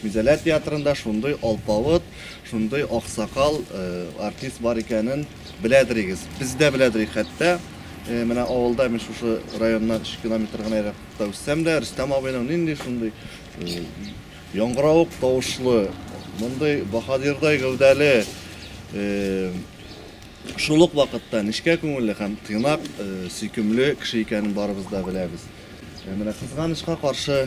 Гүзәлә театрында шундый алпавыт, шундый аксакал артист бар икәнен беләдерегез. Без дә беләдерик хәтта. Менә авылда мин шушы районнан 3 километр гына еракта үссәм дә, Рөстәм абыйның нинди шундый яңгыравык тавышлы, мондый баһадирдай гәүдәле, шул ук вакытта нечкә күңелле һәм тыйнак, сөйкемле кеше икәнен барыбыз да беләбез. Менә кызганычка каршы,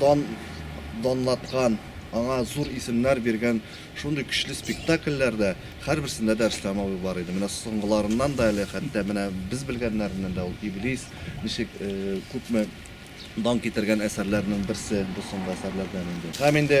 дан данлаткан, аңа зур исемнәр биргән шундый көчле спектакльләр дә, һәрберсендә дә Рөстәм абый бар иде. Менә соңгыларыннан да әле, хәтта менә без белгәннәреннән дә ул Иблис, ничек күпме дан китергән әсәрләрнең берсе бу соңгы әсәрләрдән инде. Һәм инде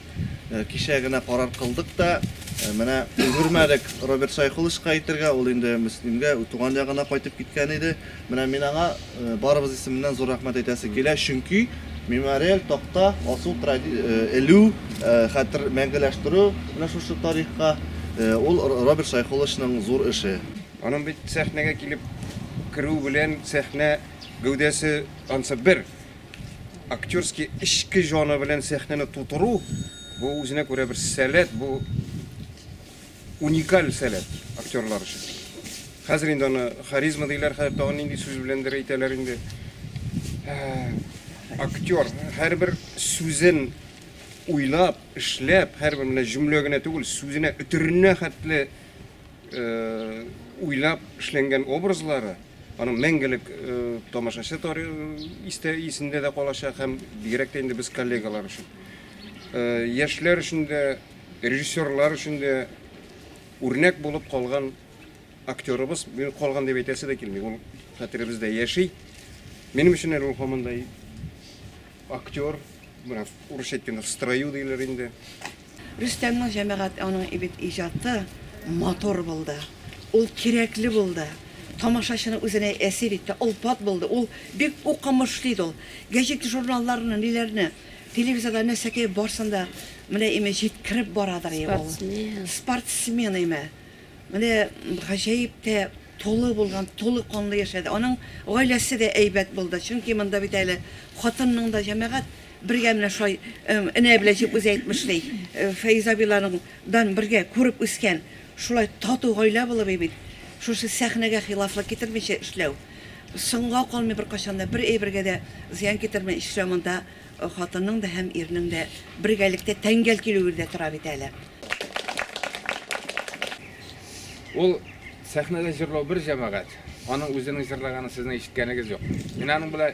Э, кичә генә карар кылдык та, э, менә өлгермәдек Роберт Сайхулычка әйтергә, ул инде Мөслимгә туган ягына кайтып киткән иде. Менә мин аңа э, барыбыз исеменнән зур рәхмәт әйтәсе килә, чөнки мемориаль такта асу элү, хәтер мәңгеләштерү менә шушы тарихка ул Роберт Сайхулычның зур эше. Аның бит сәхнәгә килеп керү белән сәхнә гәүдәсе ансы бер актерский эчке җаны белән сәхнәне тутыру бу үзенә күрә бер сәләт, бу уникаль сәләт актерлар өчен. Хәзер инде аны харизма диләр, хәзер тагын нинди сүз беләндер әйтәләр инде. Ә, актер һәрбер сүзен уйлап, эшләп, һәрбер менә җөмлә генә түгел, сүзенә өтеренә хәтле уйлап эшләнгән образлары аның мәңгелек тамашачы истә исендә дә калачак һәм бигрәк тә инде без коллегалар өчен яшьләр өчен дә режиссерлар өчен дә үрнәк булып калган актерыбыз калган дип әйтәсе дә килми ул хәтеребездә яши минем өчен әле ул һаман да актер менә урысча әйткәндә в строю диләр инде Рөстәмнең җәмәгать аның бит иҗаты матур булды, ул кирәкле булды, тамашачыны үзенә әсир итте, олпат булды, ул бик укымышлы иде ул. Гәҗит-журналларны, ниләрне, телевизорда нәрсәкәй барсын да менә име җиткереп барадыр и ул. Спортсмен име. Менә гаҗәеп тә тулы булган, тулы канлы яшәде. Аның гаиләсе дә әйбәт булды, чөнки монда бит әле хатынның да җәмәгать Бергә менә шулай энә белән дип үзе әйтмешли, Фәиз абыйларың дан бергә күреп үскән шулай тату гаилә булып бит шушы сәхнәгә хилафлык китермичә эшләү, соңга калмый беркайчан да, бер әйбергә дә зыян китермәй эшләү монда хатынның да һәм ирнең дә бергәлектә тәңгәл килүе дә тора бит әле. Ул сәхнәдә җырлау бер җәмәгать, аның үзенең җырлаганын сезнең ишеткәнегез юк. Мин аның белән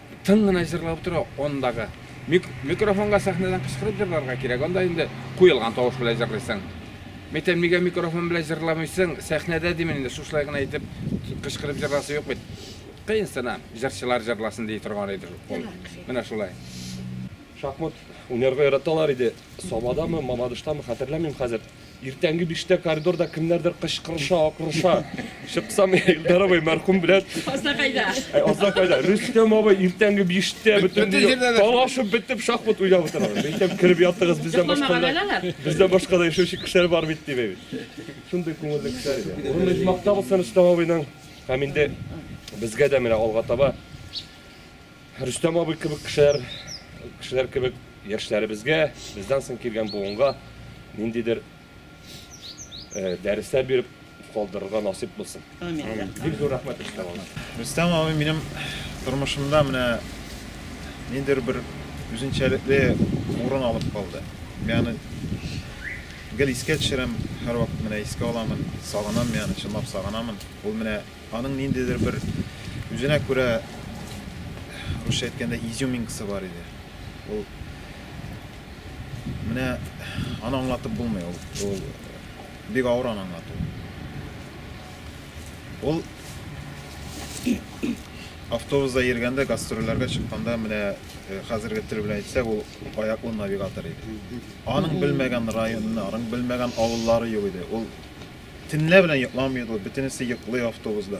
Тын гына җырлап утыру андагы. Микрофонга сәхнәдән кычкырып җырларга кирәк, анда инде куелган тавыш белән җырлыйсың. Мәйтәм, нигә микрофон белән җырламыйсың, сәхнәдә димен инде, шушылай гына итеп кычкырып җырласы юк бит. Кыен сына, җырчылар җырласын ди торган иде шул кол. Менә шулай. Шахмат уйнарга яраталар иде. Сабадамы, Мамадыштамы, хәтерләмим хәзер. Иртәнге биштә коридорда кемнәрдер кычкырыша, акырыша. Чыксам, Илдар абый мәрхүм белән. Азда кайда? Азда кайда? Рөстәм абый иртәнге биштә бөтен талашып бетеп шахмат уйнап утыра. Әйтәм, кереп ятыгыз, бездән башка да. Бездән башка да яшәүче кешеләр бар бит дип әйт. Шундый күңелле кешеләр иде. Урын ижмактабыз Рөстәм абыйның. Һәм инде безгә дә менә алга таба Рөстәм абый кебек кешеләр, кешеләр кебек яшьләребезгә, бездән соң килгән буынга ниндидер э, дәресләр биреп калдырырга насыйп булсын. Бик зур рәхмәт Рөстәм абый. Рөстәм абый минем тормышымда менә ниндидер бер үзенчәлекле урын алып калды. Мин аны гел искә төшерәм, һәрвакыт менә искә аламын, сагынам мин аны, чынлап сагынамын. Ул менә Аның ниндидер бер үзенә күрә русча әйткәндә изюминкасы бар иде. Ул менә аны аңлатып булмый, ул, ул бик авыр аны аңлату. Ул автобуста йөргәндә, гастрольләргә чыкканда менә э, хәзерге тел белән әйтсәк, ул аяклы навигатор иде. Аның белмәгән районы, аның белмәгән авыллары юк иде. Ул Төнлә белән йокламыйк ул, бөтенесе йоклый автобусда.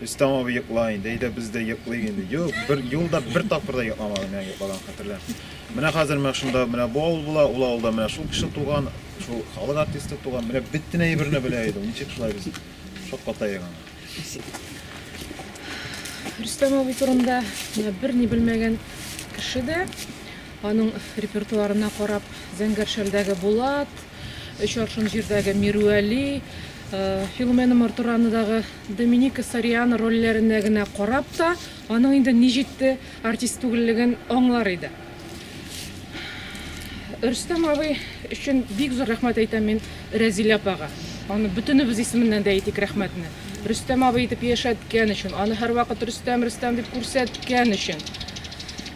Рөстәм абый йокла инде, әйдә без дә йоклыйк инде. Юк, бер юлда бер тапкыр да йокламадым, менә йоклаган хәтерләр. Менә хәзер менә шунда менә бу авыл була, ул авылда менә шул кеше туган, шул халык артисты туган, менә бөтен әйберне белә иде ул. Ничек шулай без шаккатаек аны. Рөстәм абый турында менә берни белмәгән кеше дә аның репертуарына карап, Зәңгәршәлдәге Булат, Өч аршын җирдәге Мирүәли, Филумена Мортуранадагы Доминика Сариана рольләренә генә карап та, аның инде ни җитте артист түгеллеген аңлар иде. Рөстәм абый өчен бик зур рәхмәт әйтәм мин Рәзилә апага. Аны бөтенебез исеменнән дә әйтик рәхмәтне. Рөстәм абый итеп яшәткән өчен, аны һәрвакыт Рөстәм, Рөстәм дип күрсәткән өчен.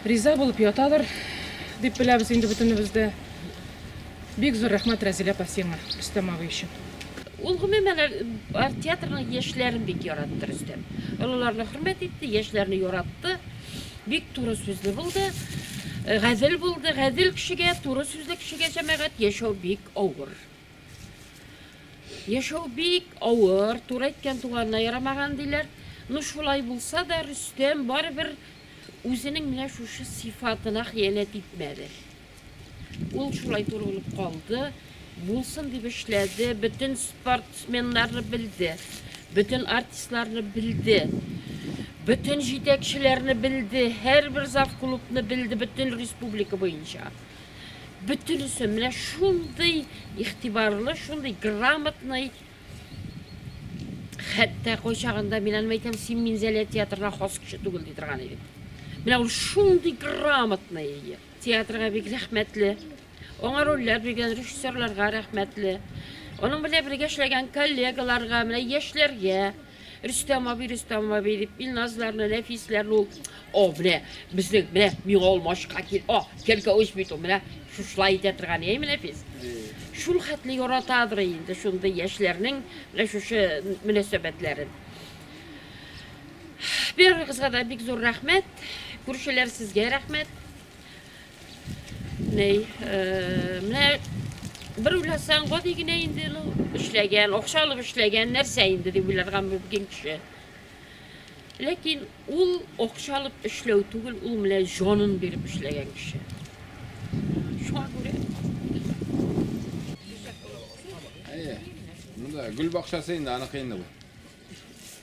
Риза булып ятадыр, дип беләбез инде бөтенебез дә. Бик зур рәхмәт Рәзилә апа сиңа, Рөстәм абый өчен. Ул гомумән театрның яшьләрен бик яратты Рөстәм. Олыларны хөрмәт итте, яшьләрне яратты. Бик туры сүзле булды. Э, гадел булды. Гадел кешегә, туры сүзле кешегә җәмәгать яшәү бик авыр. Яшәү бик авыр, туры әйткән туганына ярамаган диләр. Ну шулай булса да Рөстәм барыбер үзенең менә шушы сифатына хыянәт итмәде. Ул шулай турылып калды, булсын дип эшләде, бөтен спортсменнарны белде, бөтен артистларны белде, бөтен җитәкчеләрне белде, һәрбер зав клубны белде, бөтен республика буенча. Бөтенесе менә шундый игътибарлы, шундый грамотный, хәтта кайчагында мин аны әйтәм, син Минзәлә театрына хас кеше түгел ди торган идек. Менә ул шундый грамотный Театрга бик рәхмәтле. Аңа рольләр биргән режиссерларга рәхмәтле. Аның белән бергә эшләгән коллегаларга, менә яшьләргә, Рөстәм абый, Рөстәм абый дип, Илназларны, Нәфисләрне ул, о, менә безнең, менә миңа алмашка кил, о, кәлкә үз бит ул, менә шушылай итә торган, әйме, Нәфис? Шул хәтле яратадыр инде шундый яшьләрнең менә шушы мөнәсәбәтләрен. Первый кызга да бик зур рәхмәт. Күршеләр сезгә рәхмәт. Ней, э, менә бер уйласаң, гади генә инде ну, эшләгән, акча алып эшләгән нәрсә инде дип уйларга мөмкин кеше. Ләкин ул акча алып эшләү түгел, ул менә җанын биреп эшләгән кеше. Шуңа күрә Әйе. Монда гөл бакчасы инде аныкы инде бу.